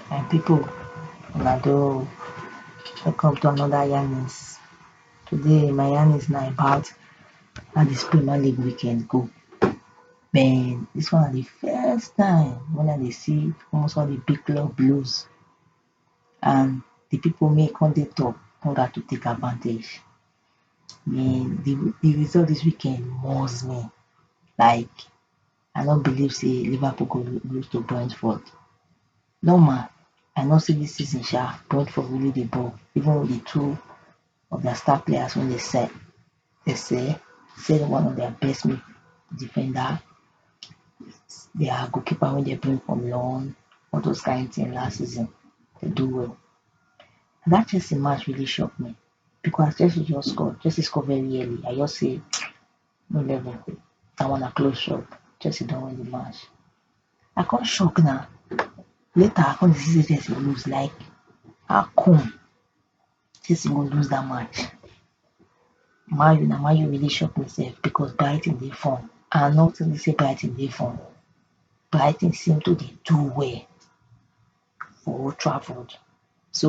my pipo una do welcome to anoda yarnings today my yarnings na about how dis premier league weekend go den dis one na di first time wey I dey see almost all di big club blues and di people wey come dey top come gat to take advantage and di di result dis weekend must me like I no believe sey Liverpool go lose to Brentford normal I know sey dis season sha Brentford really dey ball even with di two of their star players wey dey sell dey sell sey one of their best mid defender their goalkeeper wey dem bring from loan all those kind thing last season dey do well and that Chelsea match really shock me because as Chelsea just score Chelsea score very early I just say no level that one na close shop Chelsea don win the match I come shock na later I come dey see sey Chelsea lose like how come Chelsea go lose dat match man u na man u really shock me sef because Brighton dey form and I no tink sey Brighton dey form Brighton seem to dey do well for Old Trafford so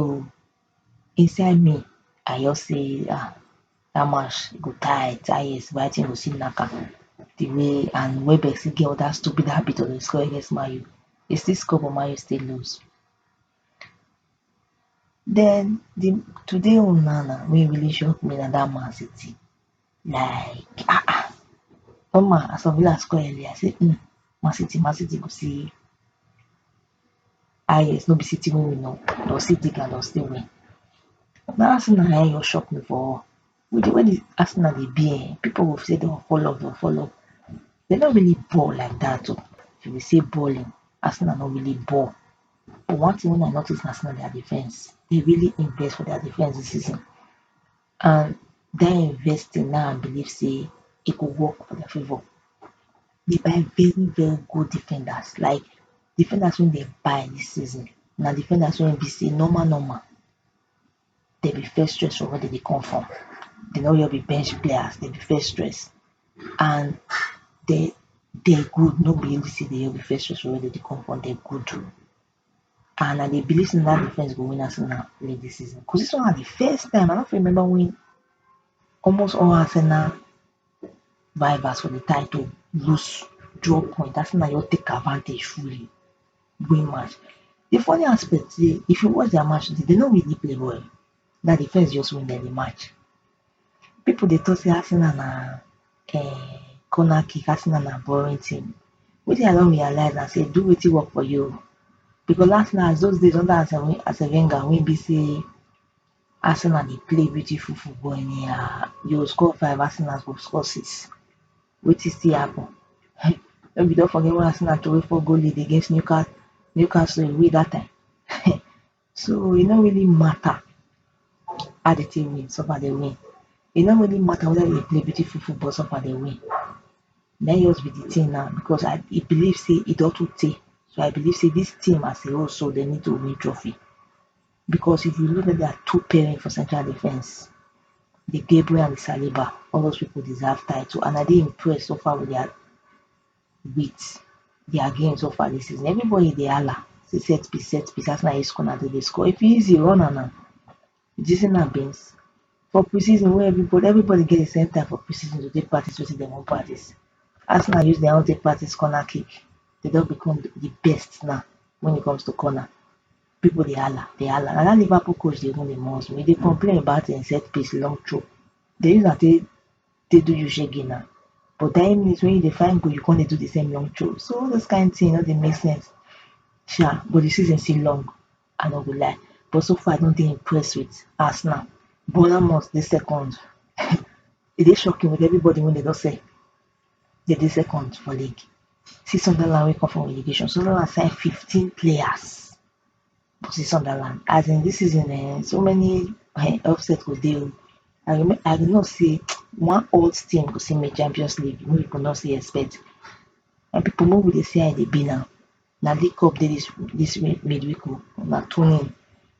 inside me I just sey ah dat match e go tight ah yes Brighton go still nack am di way and Welbeck still get dat stupid habit of dey score against man u e still score but man u still lose Den di today own na na wey really shock me na dat man city like ah ah omo as of last call earlier I say um man city man city go see highest no be city wey we know but city gat us still win dat tin na en just shock me for Who dey where dis Arsenal dey be um people go say dem fall off dem fall off dem no really ball like dat oh if you see balling Arsenal no really ball but one thing wey I notice na sey na their defence dem really invest for their defence dis season and dat investing na I believe sey e go work for their favour dey buy very very good defenders like defenders wey dem buy dis season na defenders wey be sey normal normal dem be first stress for where dem dey come from, dem no just be bench players, dem be first stress and dem dem good, no be every season dem just be first stress for where dem dey come from, dem good too and I dey believe sey na dat defence go win Arsenal league dis season cos dis one na di first time, I no fit remember wen almost all Arsenal vibers for the time to loose drop point as na just take advantage fully win match the funny aspect dey if you watch their match today they no really play well na defense just win them the match people dey talk say Arsenal na um corner kick Arsenal na boring team wetin I don realize na say do wetin work for you because Arsenal as those days under Arsene Wenger wey be say Arsenal dey play beautiful football anyhow, dey go score five Arsenal go score six wetin still happen um shey we don forget wen Arsenal throway four goal lead against Newca Newcastle away dat time um so e no really matter how di team win so far dey win, e no really matter weda dey play beautiful football so far dey win na im just be di tin now becos I I believe sey e don too tey so I believe sey dis team as a whole so dey need to win trophy. Because if you look at dia two parents for central defence, De Gebre and Saliba, all those pipo deserve title and I dey impressed so far with dia wit dia game so far dis season. Everybody dey hala say set piece, set piece, as na e score na dem dey score. If e easy, run am na. Did you see na beans? For pre-season wey everybody everybody get di same time for pre-season to take practice wetin dem wan practice. Arsenal use dia own take practice corner kick, dem don become di best na wen it comes to corner. People dey hala dey hala na dat Liverpool coach dey even dey must me, he dey complain about him set piece long throw, dey use am take take do you shege na, but dat minute wey you dey find goal you come dey do de same long throw, so all those kind thing no dey make sense sha, but de season still long I no go lie, but so far I no dey impressed with Arsenal, Bournemouth dey second, e dey shocking with everybody wey dem don sell, They dey second for league. See Sunderland wey come for relegation. Sunderland sign fifteen players for see Sunderland. As in this season um so many um upset go dey oh. I remain I dey know sey one odd team go still make champions league wey people no still expect. My people make we dey see how e dey be now. Na league cup dey this this mid mid week oh. Una tune in.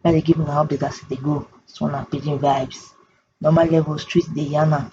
Make I dey give una update as e dey go. This one na pidgin vibes. Normal level street dey yarn am.